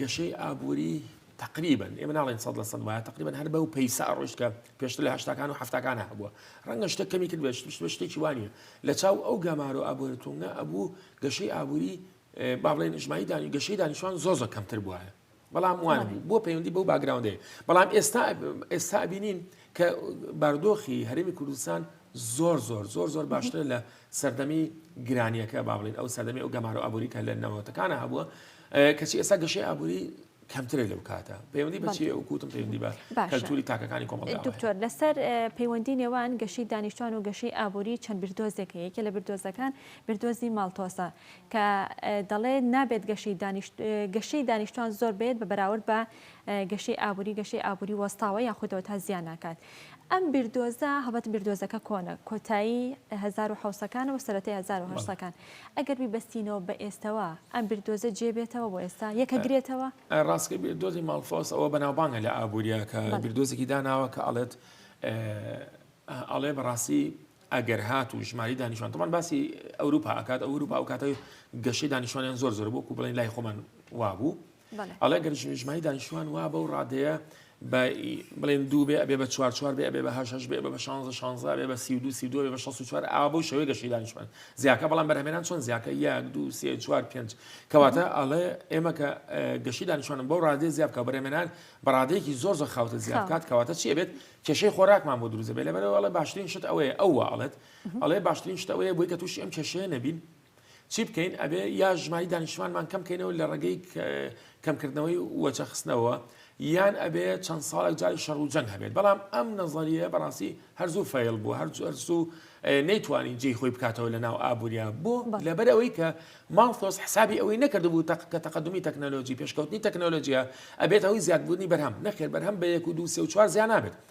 گەشەی ئابووری تەقریبەن، ئێمە ناڵێین سەد لە سەد وایە، تەقریبەن هەر بەو پەیسە ئەڕۆیشت کە پێشتر لە هەشتاکان و حەفتاکان هەبووە. ڕەنگە شتێک کەمی کرد بێت، شت شتێکی وا نییە. لە چاو ئەو گەمارۆ ئابوورییە توندە ئەبوو گەشەی ئابووری با بڵێین ئیجماعی دانی گەشەی دانیشتووان زۆر زۆر کەمتر بووایە. بەڵام وانە بوو بۆ پەیوەندی بەو باگراوندەیە. بەڵام ئێستا ئێستا ئەبینین کە بارودۆخی هەرێمی کوردستان زۆر زۆر زۆر زۆر باشترە لە سەردەمی گرانیەکە با بڵێین ئەو سەردەمی ئەو گەمارۆ ئابووری کە لە نەوەتەکانە هەبووە کەچی ئێستا گەشەی ئابووری کەمترە لەو کاتە پەیوەندی بەچی ئەو کوتم پەیوەندی بە کەلتوری تاکەکانی کۆمەڵ دکتۆر لەسەر پەیوەندی نێوان گەشی دانیشتوان و گەشی ئابووری چەند بردۆزێکە یەکێ لە بردۆزەکان بردۆزی ماڵتۆسە کە دەڵێ نابێت گەشی گەشی دانیشتوان زۆر بێت بە بەراورد بە گەشەی ئابوری گەشەی ئابوری وەستاوە یاخودەوە تا زیان ناکات ئەم بیردۆزە هەبەت بیردۆزەکە کۆنە کۆتایی 1970ەکانەوە سەرەتی 1970ەکان ئەگەر بیبەستینەوە بە ئێستەوە ئەم بیردۆزە جێبێتەوە بۆ ئێستا یەکە گرێتەوە ڕاستکە بیردۆزی ماڵفۆس ئەوە بەناوبانگە لە ئابووریەکە بیردۆزێکی داناوە کە ئەڵێت ئەڵێ بەڕاستی ئەگەر هات و ژماری دانیشان تەمان باسی ئەوروپا ئەکات ئەوروپا و کاتەوەی گەشەی دانیشانیان زۆر زۆر بۆ و بڵێن لای خۆمان وابوو ئەڵێ گەر ژمای دانیشتوان وا بەو ڕادەیە بڵێن دوو بێ ئەبێ بە چوار چوار بێ ئەبێ بە هەشش بێ بە شانزە شانزە بێ بە سی دو سی دو بە شەست چوار ئاوا بۆ شەوەی گەشی دانیشتوان زیاکە بەڵام بەرهمێنان چۆن زیاکە یەک دو سێ چوار پێنج کەواتە ئەڵێ ئێمە کە گەشی دانیشتوانم بەو ڕادێ زیاب بکە بەرهمێنان بەڕادەیەکی زۆر زە خاوتە زیاد کات کەواتە چی بێت کێشەی خۆراکمان بۆ دروزە بێ لەبەرەوەڵە باشترین شت ئەوەیە ئەوە ئەڵێت ئەڵێ باشترین شتەوەیە بۆی کە تووشی ئەم کێشەیە نەبین چی بکەین ئەبێ یا ژماری دانیشتوانمان کەم کەینەوە لە ڕێگەی کەمکردنەوەی وەچەخستنەوە یان ئەبێ چەند ساڵێک جاری شەڕ و جەنگ هەبێت بەڵام ئەم نەزەریە بەڕاستی هەرزوو فەیل بوو هەرزوو نەیتوانین جێ خۆی بکاتەوە لە ناو ئابووریا بۆ لەبەر ئەوەی کە ماڵتۆس حسابی ئەوەی نەکردبوو تەق کە تەقدمی تەکنەلۆژی پێشکەوتنی تەکنەلۆژیە ئەبێت ئەوی زیادبوونی بەرهەم نەخێر بەرهەم بە یەک و دو سێ و چوار زیان نابێت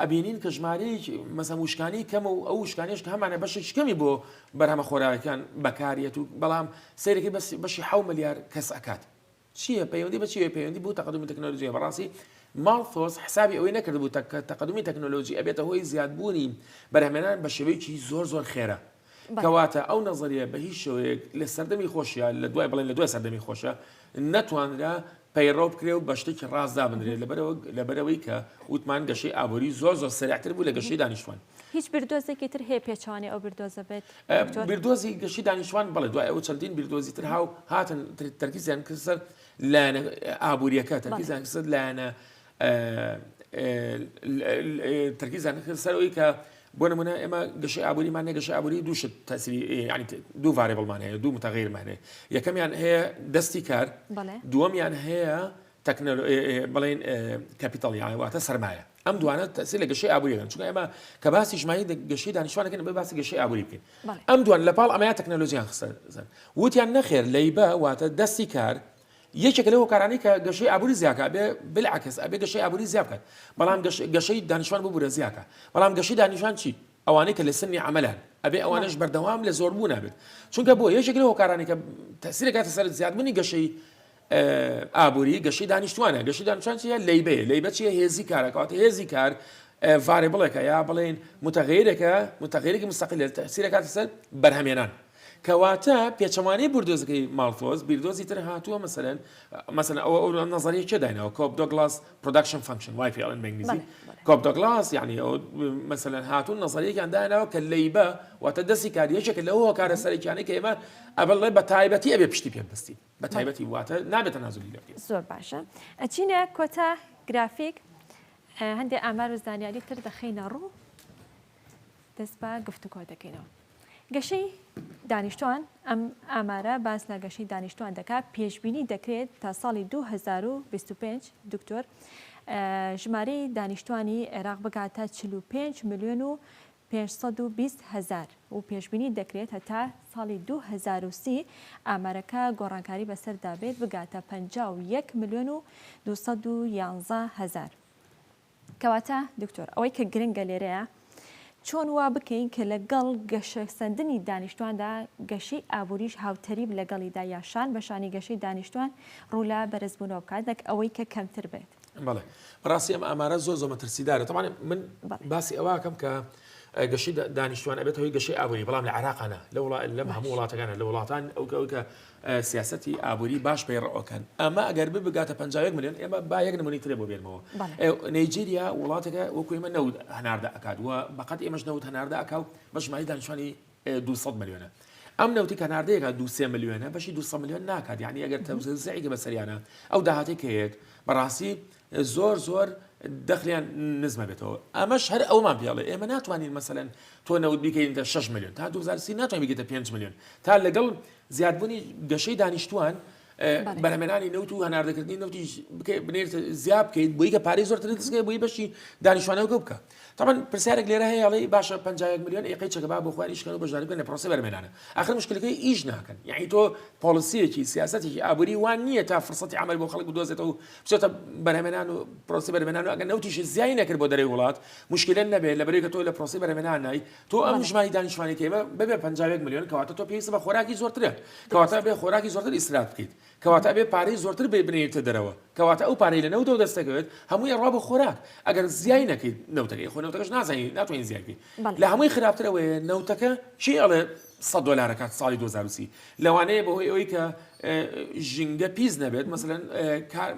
ئەبینین کە ژمارەیەکی مەسەن وشکانی کەمە و ئەو وشکانیش کە هەمانە بەشێکی کەمی بۆ بەرهەمە خۆراوەکان بەکارەت و بەڵام سەیرەکەی بەشی حو ملیار کەس ئەکات چییە پەیوەندی بە چیە پەیوەندی بۆ تەقدمی تەکنۆلۆژیە بەڕاستی ماڵفۆس حسابی ئەوەی نەکرد بوو تەکە تەقدمی تەکنۆلۆژی ئەبێتە هۆی زیادبوونی بەرهمێنان بە شێوەیەکی زۆر زۆر خێرا کەواتە ئەو نەزەریە بە هیچ شێوەیەک لە سەردەمی خۆشیە لە دوای بڵێن لە دوای سەردەمی خۆشە نەتوانرا پەیڕەو بکرێ و بە شتێکی ڕاست دابنرێت لەبەرەوە لەبەرەوەی کە وتمان گەشەی ئابووری زۆر زۆر سەرعتر بوو لە گەشەی دانیشتوان هیچ بردۆزێکی تر هەیە پێچوانی ئەو بردۆزە بێت بردۆزی گەشی دانیشتوان بڵێ دوای ئەو چەندین بردۆزی تر هاو هاتن تەرکیزیان کرد سەر لایەنە ئابووریەکە تەرکیزیان کرد لایەنە تەرکیزیان دەکرد سەر ئەوەی کە بۆ نمونە ئێمە گەشەی ئابووریمان هەیە گەشەی ئابووری دوو شت تەسری یعنی دوو ڤارێبڵمان هەیە دوو متغیرمان هەیە یەکەمیان هەیە دەستی کار بەڵێ دووەمیان هەیە تەکنەلۆ ئێ- ئێ- بڵێن ئێ، کەپیتاڵ یان واتە سەرمایە ئەم دوانە تەسی لە گەشەی ئابووریەکەن چونکە ئێمە کە باسی ژماری دە- گەشەی دانیشتوانەکەن بە باسی گەشەی ئابووری بکەین بەڵێ. ئەم دوان لەپاڵ ئەمەیان تەکنەلۆژیان خستە زەن وتیان نەخێر لەیبە واتە دەستی کار یەکێکە لەو هۆکارانەی کە گەشەی ئابووری زیاکا ئەبێ بلعکس ئەبێ گەشەی ئابووری زیا بکات بەڵام گەشەی دانیشتوان ببورە زیاکا بەڵام گەشەی دانیشان چی ئەوانەی کە لە سنی عەمەلان ئەبێ ئەوانەش بەردەوام لە زۆربوو نابێت چونکە بۆ یەکێک لەو هۆکارانەی کە تەسیرەکاتە سەر زیادبوونی گەشەی ئابووری گەشەی دانیشتوانە گەشەی دانیشتوان چیە لەیبەیە لەیبە چیە هێزی کارەکەواتە هێزی کار ڤارێبڵێکە یا بڵێن متغیرێکە متغیرێکی مستەقلێت تەسیرەکاتە سەر بەرهەمێنان کەواتە پێچەوانەی بوردۆزەکەی ماڵتۆز بیردۆزی تر هاتووە مەسەرەن مەسەن ئەوە ئەو نەزەری چێ داینەوە کۆپ دۆگلاس پرۆداکشن فەنکشن وای پێڵن بەنگلیزی کۆپ دۆگلاس یعنی ئەو مەسەن هاتوون نەزەریەکان داینەوە کە لەیبە واتە دەستی کاریەکێکە لەو هۆکارە سەرەکیانەی کە ئێمە ئەبڵێ بە تایبەتی ئەبێ پشتی پێ بستین بە تایبەتی واتە نابێتە نازلی لە زۆر باشە ئەچینە کۆتا گرافیک هەندێک ئامار و زانیاری تر دەخینە ڕوو دەست بە گفتوگۆ دەکەینەوە. گەشەی دانیشتوان ئەم ئامارە باس لە گەشەی دانیشتوان دەکات پێشبینی دەکرێت تا ساڵی 2025 دکتۆر ژمارەی دانیشتوانی عێراق بگاتە 45 میلیۆن و 520 هزار و پێشببینی دەکرێت هەتا ساڵی 2030 ئامارەکە گۆڕانکاری بەسەردا بێت بگاتە 51 میلیۆن و 211 هزار. کەواتە دکتۆر ئەوەی کە گرنگە لێرەیە چۆن وا بکەین کە لە گەڵ گەشە سەندنی دانیشتواندا گەشەی ئابووریش هاوتەریب لە گەڵیدا یا شان بە شانی گەشەی دانیشتوان ڕوو لە بەرز بوونەوە بکات نەک ئەوەی کە کەمتر بێت. بەڵێ بەڕاستی ئەم ئامارە زۆر زۆر مەترسیدارە تەوانێ من باسی ئەوەکەم کە گەشی دانیشتوان ئەبێت هۆی گەشەی ئابووری بەڵام لە عراقانە لە وڵا لەم هەموو وڵاتەکانە لە وڵاتان ئەو کەوکە سیاسەتی ئابوری باش پەیڕئوکەن ئەمە ئەگەر ببگاتە پەنجا و یەک ملیۆن ئێمە با یەک نمونەی ترێ بۆ بێنمەوە بەڵێ. نەیجیریا وڵاتێکە وەکو ئێمە نەوت هەناردە ئەکات و بە قەد ئێمەش نەوت هەناردە ئەکا و بە ژماری دانیشتوانی دوو سەد ملیۆنە ئەم نەوتی کە هەناردەی ئەکا دوو سێ ملیۆنە بەشی دوو سەد ملیۆن ناکات یانی ئەگەر تەوزێعی کە بەسەریانە ئەو داهاتەی کە هەیەت بەڕاستی زۆر زۆر دەخلیان نزمە بێتەوە ئەمەش هەر ئەومان پێڵێ ئێمە ناتوانین مەسەن تۆ نەوت بیکەینتە 6 میلیۆن تا 2030 ناتوانین بگەیتە 5 میلیۆن تا لەگەڵ زیادبوونی گەشەی دانیشتوان بەرهەمێنانی نەوت و هەناردەکردنی نەوتی بنێت زیاب بکەیت بۆی کە پارەی زۆرتر دەستگەی بۆی بەشی دانیشتوانەوە بکە تەبەن پرسیارێک لێرە هەیە ئەڵێی باشە 51 میلیۆن ئەی قەی چەکە با بۆ خۆیان ئیشکەن و بەشداری بکەن لە پرۆسەی بەرمێنانە ئاخر مشکلەکەی ئیش ناکەن یعنی تۆ پۆلیسیەکی سیاسەتێکی ئابووری وان نییە تا فرسەتی عمل بۆ خەڵک بدۆزێتەوە و بچێتە بەرهەمێنان و پرۆسی بەرمێنان و ئەگەر نەوتیش زیای نەکرد بۆ دەرەوەی وڵات مشکلە نەبێت لە بەرێکە تۆ لە پرۆسی بەرهەمێنان نای تۆ ئەم ژماری دانیشتوانی کێمە ببێ 51 میلیۆن کەواتە تۆ پێویستە بە خۆراکی زۆرترە کەواتە بێ خۆراکی زۆرتر ئیسراف بکەیت کەواتە ئەبێت پارەی زۆرتر بنێریتە دەرەوە، کەواتە ئەو پارەی لە نەوتەوە دەست دەکەوێت هەمووی ئەڕوا بۆ خۆراک، ئەگەر زیای نەکەیت نەوتەکەی خۆ نەوتەکەش نازانین ناتوانین زیای بکەین، لە هەمووی خراپتر ئەوەیە نەوتەکە کێ ئەڵێ سەد دۆلار ئەکات ساڵی دوو هەزار و سی لەوانەیە بەهۆی ئەوەی کە ژینگە پیس نەبێت مەسەلەن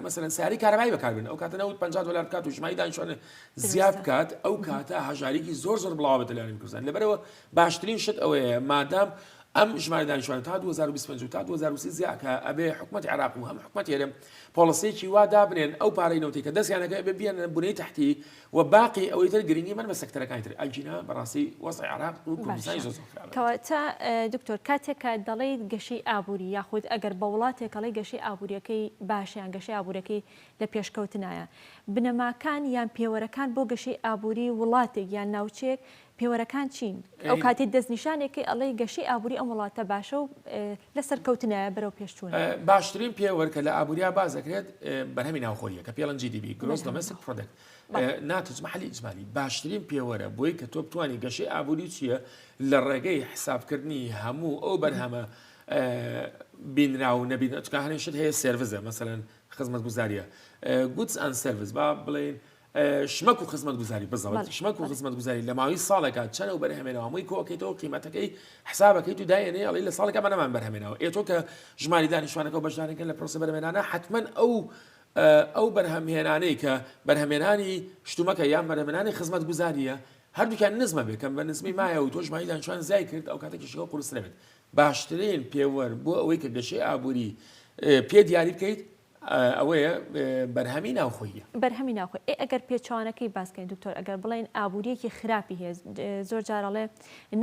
مەسەلەن سیارەی کارەبایی بەکاربێن ئەو کاتە نەوت پەنجا دۆلار بکات و ژماری دانیشتووان زیاد بکات ئەو کاتە هەژاریکی زۆر زۆر بڵاوە بەدەلانی بکوزان لەبەرەوە باشترین شت ئەوەیە مادام ئەم ژمارە دانیشتوانە تا دوو هەزار و بیست و پەنج و تا دوو هەزار و سی زیا کە ئەبێ حکومەتی عێراق و هەم حکومەتی هەرێم پۆڵسییەکی وا دابنێن ئەو پارەی نەوتی کە دەستیان دەکەوێت ئەبێ بیەننە بنەی تەحتی و باقی ئەوەی تر گرنگی مەن بە سەکتەرەکانی تر ئەگینا بەڕاستی وەزعی عێراق و کوردستانی زۆر باشە زۆر خراپە کەواتە ئە، دکتۆر کاتێک کە دەڵێیت گەشەی ئابووری یاخود ئەگەر بە وڵاتێک ئەڵێی گەشەی ئابوورییەکەی باشە یان گەشەی ئابوورییەکەی لە پێشکەوتنایە بنەماکان یان پێوەرەکان بۆ گەشەی ئابووری وڵاتێک یان ناوچەیەک پێوەرەکان چین؟ ئەو کاتەی دەستنیشانێک کەی ئەڵێی گەشەی ئابووری ئەم وڵاتە باشە و لە سەرکەوتنایە بەرەو پێشچوونە؟ باشترین پێوەر کە لە ئابووریا باس دەکرێت بەرهەمی ناوخۆییە کە پێڵەن جی دی بی گرۆس دۆمێستیک پرۆدەکت ناتوچ مەحلی ئیجمالی باشترین پێوەرە بۆی کە تۆ بتانی گەشەی ئابووری چییە لە ڕێگەی حسابکردنی هەموو ئەو بەرهەمە بینرا و نەبین ئەچکە هەنێشت هەیە سێرڤزە مەسەن خزمەت گوزاریە گوتس ئەن سەرڤز با بڵێن شمەک و خزمەتگوزاری، بزەوت، شمەک و خزمەتگوزاری لە ماوەی ساڵێکا چەنە و بەرهەمێنەوە هەمووی کۆکەیتەوە قیمەتەکەی حسابەکەیت و دایێنێ ئەڵی لە ساڵێکا بە نەمان بەرهەمێنەوە ئێ تۆ کە ژماری دانیشتوانەکە و بەشدارنەکەن لە پرۆسە بەرەمێنانە حەتمەن ئەو ئەو بەرهەمهێنانەی کە بەرهەمێنانی شتومەکە یان بەرەمێنانی خزمەتگوزاریە هەردووکیان نزمە بێ کەم بە نزمی مایە و تۆ ژماری دانیشتوان زیای کرد ئەو کاتە کێشەکە قورسرە بێت باشترین پێوەر بۆ ئەوەی کە گەشەی ئابووری پێ دیاری بکەیت ئەوەیە بەرهەمی ناوخۆییە. بەرهەمی ناوخۆی ئێ ئەگەر پێچەوانەکەی باس کەین دکتۆر ئەگەر بڵێین ئابوورییەکی خراپی هەیە زۆر جار ئەڵێ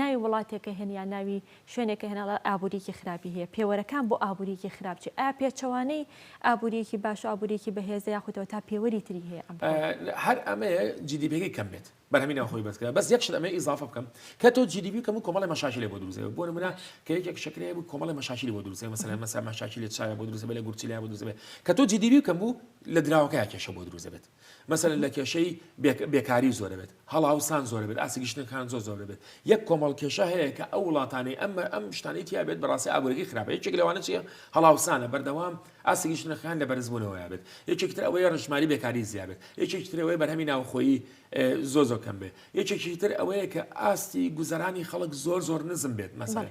ناوی وڵاتێکە هێن یا ناوی شوێنێکە هێن ئەڵێ ئابوورییەکی خراپی هەیە پێوەرەکان بۆ ئابوورییەکی خراپ چی ئایا پێچەوانەی ئابوورییەکی باش و ئابوورییەکی بەهێزە یاخودەوە تا پێوەری تری هەیە ئەم هەر ئەمەیە جیدیپیەکەی کەم بێت بەرهەمی ناوخۆی بەرز کرا بەس یەک شت ئەمەوێ ئیزافە بکەم کە تۆ جی دی پی کەم و کۆمەڵی مەشاکیلێ بۆ دروست دەبێت بۆ نمونە کە یەکێک شەکرەی هەبوو کۆمەڵی مەشاکیلی بۆ دروست دەبێت مەسەلەن مەسا مەشاکیلی چاویان بۆ دروست دەبێت لە گورچیلیان بۆ دروست دەبێت کە تۆ جی دی پی کەم بوو لە دراوەکەیان کێشە بۆ دروست دەبێت مەسەلەن لە کێشەی بێک بێکاری زۆر دەبێت هەڵاوسان زۆر دەبێت ئاستی گشتنەکان زۆر زۆر دەبێت یەک کۆمەڵ کێشە هەیە کە ئەو وڵاتانەی ئەم ئەم شتانەی تیا بێت بەڕاستی ئابوورەکەی خراپە یەکێک لەوانە چییە هەڵاوسانە بەردەوام ئاستی ژنە خان لە بەرزبوونەوەیا بێت یەکێکی تر ئەوەیە ڕشماری بێکاری زیا بێت یەکێکی تر ئەوەیە بەرهەمی ناوخۆیی زۆ زۆ کەم بێت یەکێکی تر ئەوەیە کە ئاستی گوزەرانی خەڵک زۆر زۆر نزم بێت مەسەر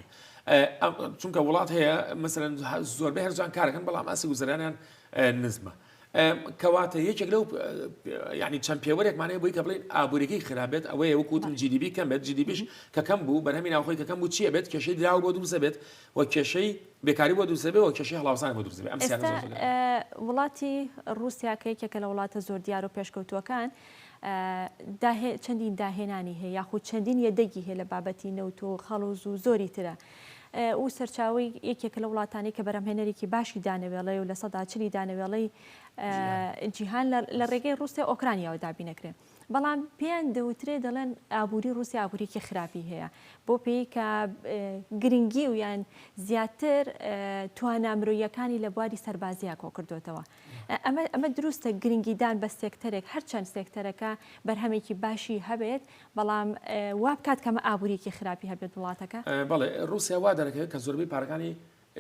چونکە وڵات هەیە مەسەرەن زۆربەی هەرجان کارەکەن بەڵام ئاسی گوزەرانیان نزمە. کەواتە یەکێک لەو ینی چەند پێوەرێکمانەیە بۆی کە بڵین ئابوورێکی خراپێت ئەوەیە وکوتم جیدیبی کەم بێت جیدیبیش کەکەم بوو بەرهەمی ناوخۆی کەکەم بوو چیە بێت کێشەی دراوە بۆ دروزە بێت و کێشەی بێکاری بۆ دروست دەبێت و کێشەی هەڵاوسان بۆ دروست دەبێت ئەم سیاسەتە زۆر ئێستا زۆر وڵاتی ڕووسیا کە یەکێکە لە وڵاتە زۆر دیار و پێشکەوتووەکان داهێ چەندین داهێنانی هەیە یاخود چەندین یەدەگی هەیە لە بابەتی نەوت و خەڵوز و زۆری ترە ئەو سەرچاوی یەکێکە لە وڵاتانی کە بەرەمهێنەرێکی باشی دانەوێڵەی و لە سەدا چلی دانەوێڵەی جیهان. جیهان لە لە ڕێگەی ڕووسیا ئۆکرانیاوە دابینەکرێن بەڵام پێیان دەوترێ دەڵێن ئابووری ڕووسیا ئابووریکی خراپی هەیە بۆ پێی کە گرنگی و یان زیاتر توانا مرۆیەکانی لە بواری سەربازیە کۆ کردوێتەوە ئەمە ئەمە دروستە گرنگیدان بە سێکتەرێک هەرچەند سێکتەرەکە بەرهەمێکی باشی هەبێت بەڵام وابکات کەمە ئابووریکی خراپی هەبێت وڵاتەکە بەڵێ ڕوسیا وا دەرەکەوێت کە زۆربەی پارەکانی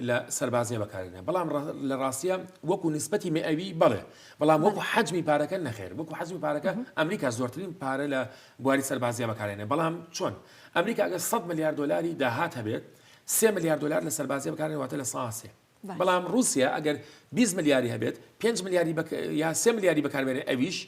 لە سەربازیە بەکارهێنا بەڵام لە ڕاستیە وەکو نسبەتی مئوی بەڵێ بەڵام وەکو حەجمی پارەکە نەخێر وەکو حەزمی پارەکە ئەمریکا زۆرترین پارە لە بواری سەربازیە بەکارێنێ بەڵام چۆن ئەمریکا ئەگە 100 ملیار دلاری داهات هەبێت سێ ملیار دلار لە سەربازیە بەکارێن واتە لە ساسێ بەڵام رووسیا ئەگەر 20 ملیاری هەبێت 5 ملیاری یا سێ ملیاری بەکاربێنێ ئەویش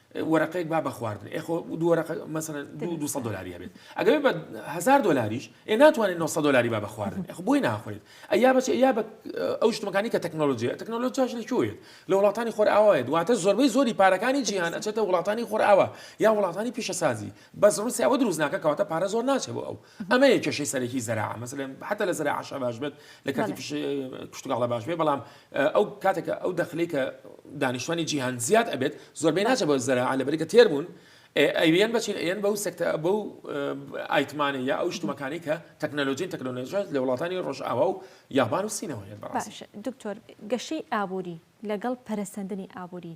وەرەقەیەک با بە خواردن ئێ خۆ دوو وەرەقە مەسەلەن دوو دوو سەد دۆلاری هەبێت ئەگەر بێت بە هەزار دۆلاریش ئێ ناتوانێت نۆ سەد دۆلاری با بە خواردن ئێ خۆ بۆی ناخورێت ئەیا بەچێ یا بە ئەو شتمەکانی کە تەکنۆلۆژیە تەکنۆلۆژیاش لە کوێت لە وڵاتانی خۆرئاوایە دواتە زۆربەی زۆری پارەکانی جیهان ئەچێتە وڵاتانی خۆرئاوا یا وڵاتانی پیشەسازی بەس ڕووسیا ئەوە دروست ناکە کەواتە پارە زۆر ناچێت بۆ ئەو ئەمەیە کێشەی سەرەکی زەراعە مەسەلەن حتا لە زەراعەشا باش بێت لە کاتی بەڵێ. تووشی کشتوکاڵا باش بێت بەڵام ئە، ئەو کاتێک کە ئەو دەخلەی کە دانیشتوانی جیهان زیاد ئەبێت زۆربەی ناچێت بەڵێ. بۆ زەراعە لەبەرئەوەی کە تێر بوون ئێ ئەیەن بە چین ئەیەن بەو سەکتە بەو ئە، ئایتمانە یا ئەو شتومەکانەی کە تەکنەلۆجین تەکنەلۆژیا لە وڵاتانی ڕۆژئاوا و یابان و سینەوە هەیە بەڕاستی. باشە دکتۆر گەشەی ئابووری لەگەڵ پەرەسەندنی ئابووری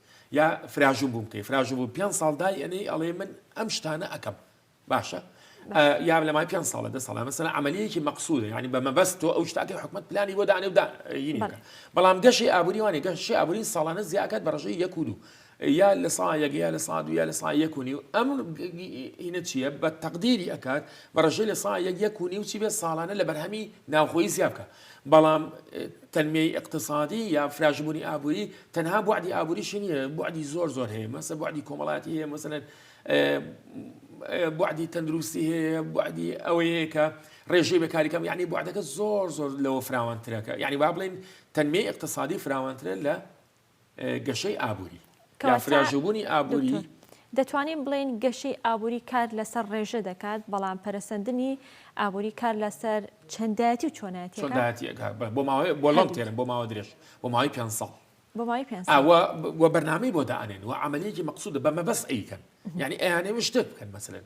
یا فراژوو بووم کەی فراژوو بوو پێ ساڵ دای ئەنەی ئەڵێ من ئەم شتانە ئەەکەم باشە یا لە مای پێ ساڵە دە ساڵە مەسەر عملیەکی مەقصود ینی بە مەبەست تۆ ئەو شتاکە حکومت پلانی بۆ دانێ ودا بەڵام گەشی ئابووریوانی گەشی ئابووری ساڵانە زیاکات بەڕژەی یەک و دوو یا لە سایەک یا لە سا دویا لە سا یەکونی و ئەم هینە چییە بە تەقدیری ئەکات بە ڕژەی لە سا یەک یەکونی و چی بێ ساڵانە لە بەرهەمی ناوخۆی زیابکە بەڵام تەنمیەی ئیقتسادی یا فراژبوونی ئابووری تەنها بوعدی ئابووریشی نییە بوعدی زۆر زۆر هەیە مەسە بوعدی کۆمەڵاتی هەیە مەسەن بوعدی تەندروستی هەیە بوعدی ئەوەیە کە ڕێژەی بەکاریکەم یعنی بوعدەکە زۆر زۆر لەوە فراوانترەکە یعنی با بڵێن تەنمی اقتصادی فراوانترە لە گەشەی ئابووری یا فراژووبوونی ئابووری. دەتوانین بڵێین گەشەی ئابووری کار لەسەر ڕێژە دەکات، بەڵام پەرەسەندنی ئابووری کار لەسەر چەندایەتی و چۆنایەتییەکە بۆ ماوەی بۆ لەم تێرم بۆ ماوە درێژ بۆ ماوەی پێنج ساڵ بۆ ماوەی پێنج ساڵ ئەوە و بەرنامەی بۆ دانێن و عەمەلیەکی مەقسوودە بە مەبەست ئەیکەن یعنی ئەیانەوێ شتێک بکەن مەسەلەن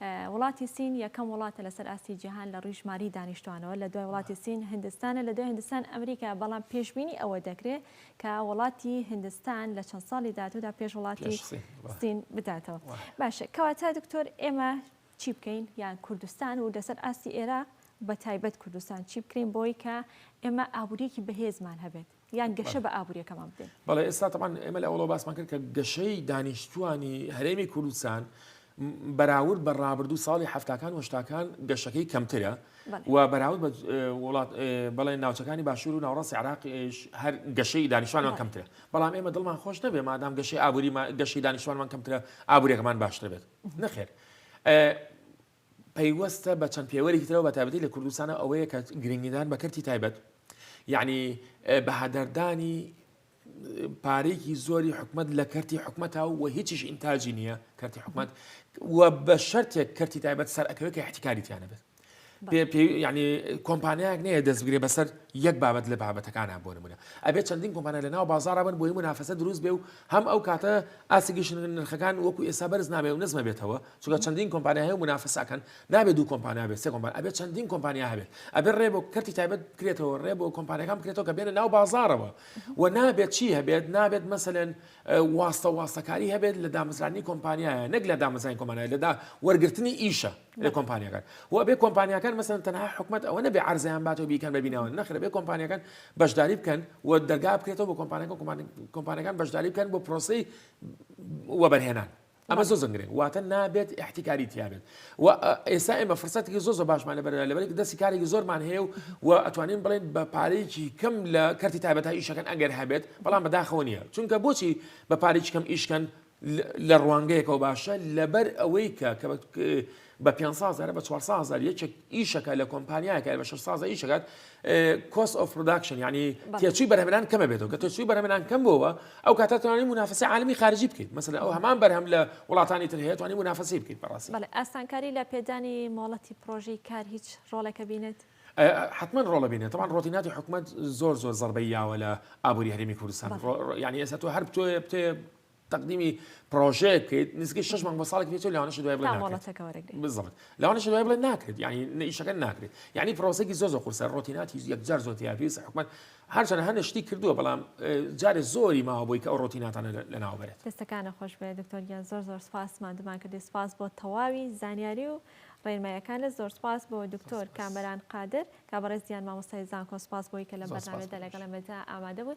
وڵاتی سین یەکەم وڵاتە لەسەر ئاستی جیهان لە ڕووی ژماری دانیشتوانەوە، لە دوای وڵاتی سین هندستانە، لە دوای هندستان ئەمریکایە، بەڵام پێشبینی ئەوە دەکرێت کە وڵاتی هندستان لە چەند ساڵی داهاتوودا پێش وڵاتی سین بداتەوە. باشە کەواتە دکتۆر ئێمە چی بکەین یان کوردستان و لەسەر ئاستی ئێراق بە تایبەت کوردستان چی بکرێین بۆی کە ئێمە ئابووریەکی بەهێزمان هەبێت؟ یان گەشە بە ئابووریەکەمان بدەین. بەڵێ ئێستا تەمان ئێمە لە ئەوڵۆ باسمان کرد کە گەشەی دانیشتوانی هەرێمی کوردستان بەراورد بە ڕابردوو ساڵی هەفتاکان وشتاکان گەشەکەی کەمترە و بەراورد وڵات بەڵێ ناوچەکانی باشور و ناوڕاستی عراقیش هەر گەشەی دانیشانمان کەمترە بەڵام ئێمە دڵمان خۆش نەبێ مادام گەشەی ئابووری گەشەی دانیشانمان کەمترە ئابوورێکمان باشتر بێت نەخێر پەیوەستە بە چەند پێوەرێکی ترەوە بە تایبەتی لە کوردستانە ئەوەیە کە گرنگیدان بە کەرتی تایبەت یعنی بەهادەردانی پارێکی زۆری حکومت لە کەرتی حکومەتە و هیچیش ئینتاجی نییە کەرتی حکومت و بە شەرتێک کەرتی تایبەت سەر ئەەکەوێت کە احتیکاریتیانە بێت ینی کۆمپانیایك نەیە دەستگرێ بەسەر یەک بابەت لە بابەتەکانە بۆ نمونە ئەبێت چەندین کۆمپانیا لە ناو بازارە بن بۆی منافەسە دروست بێ و هەم ئەو کاتە ئاسیگەشن نرخەکان وەکو ئێستا بەرز نابێ و نزمە بێتەوە چونکە چەندین کۆمپانیا هەیە و منافەسە ئەکەن نابێت دوو کۆمپانیا بێت سێ کۆمپانیا ئەبێت چەندین کۆمپانیا هەبێت ئەبێت ڕێ بۆ کەرتی تایبەت بکرێتەوە ڕێ بۆ کۆمپانیەکان بکرێتەوە کە بێنە ناو بازارەوە و نابێت چی هەبێت نابێت مەسەلەن واستە واستەکاری هەبێت لە دامەزرانی کۆمپانیایە نەک لە دامەزرانی کۆمانای لەدا وەرگرتنی ئیشە لە کۆمپانیەکان و بێ کۆمپانیەکان مەسەن تەنها حکومت ئەوە نەبێ عرزیان باتەوە بیکەن بەبینەوە نەخرە بێ کۆمپانیەکان بەشداری بکەن و دەرگا بکرێتەوە بۆ کۆمپانەکە کۆمپانەکان بەشداری بکەن بۆ پرۆسی وەبەرهێنان ئەمە زۆر زۆر گرنگ واتە نابێت احتیکاری تیابێت و ئێستا ئێمە فرسەتێکی زۆر زۆر باشمان لە بەردا لەبەرێک دەستی کارێکی زۆرمان هەیە و و ئەتوانین بڵێن بە پارەیەکی کەم لە کەرتی تایبەتە ئیشەکەن ئەگەر هەبێت بەڵام بەداخەوە نیە چونکە بۆچی بە پارێکی کەم ئیشکەن لە ڕوانگەیەکەوە باشە لەبەر ئەوەی کە بە پێنج ساز هەرە بە چوار ساز هەر یەکێک ئیشەکە لە کۆمپانیایەکە بە شش سازە ئیشەکات کۆس ئۆف پرۆداکشن ینی تێچوی بەرهەمران کەمە بێتەوە کە تێچوی بەرهەمران کەم بۆەوە ئەو کاتە توانانی منافسی عالمی خارجی بکەیت مەسەر ئەو هەمان بەرهەم لە وڵاتانی تر هەیە توانی منافسی بکەیت بەڕاستی ئاسانکاری لە پێدانی مۆڵەتی پرۆژی کار هیچ ڕۆڵێکە بینێت. حتمما ڕۆڵە بینێ تەوان ڕۆتیناتی حکوومەت زۆر زۆر زەربەی یاوە لە ئابووری هەرێمی کوردستان ینی ئێستا تۆ هەر بتۆێ بتێ تەقدیمی پڕۆژەیە بکەیت نزیکەی شش مانگ بۆ ساڵێک پێچێت لەوانەشە دوای بڵێ تا ناکرێت مۆڵەتەکە وەرەگرێت بالضبط لەوانەشە دوای بڵێ ناکرێت یعنی نە ئیشەکە ناکرێت یعنی پرۆسەکی زۆر زۆر قورسە ڕۆتیناتی یەکجار زۆر تیا پێویستە حکومەت هەرچەند هەنە شتی کردووە بەڵام اه، جارێ زۆری ماوە بۆی کە ئەو ڕۆتیناتانە لە- لەناو بەرێت دەستەکانە خۆش بێ دکتۆر گیان زۆر زۆر سپاس ماندومان کردی سپاس بۆ تەواوی زانیاری و ڕێنماییەکانت زۆر سپاس بۆ دکتۆر سپاس. کامەران قادر کا بەڕێز گیان مامۆستای زانکۆ سپاس بۆی کە لەم زۆر سپاس بەرنامەیەدا بۆ لەگەڵ ئێمەدا ئامادە بوون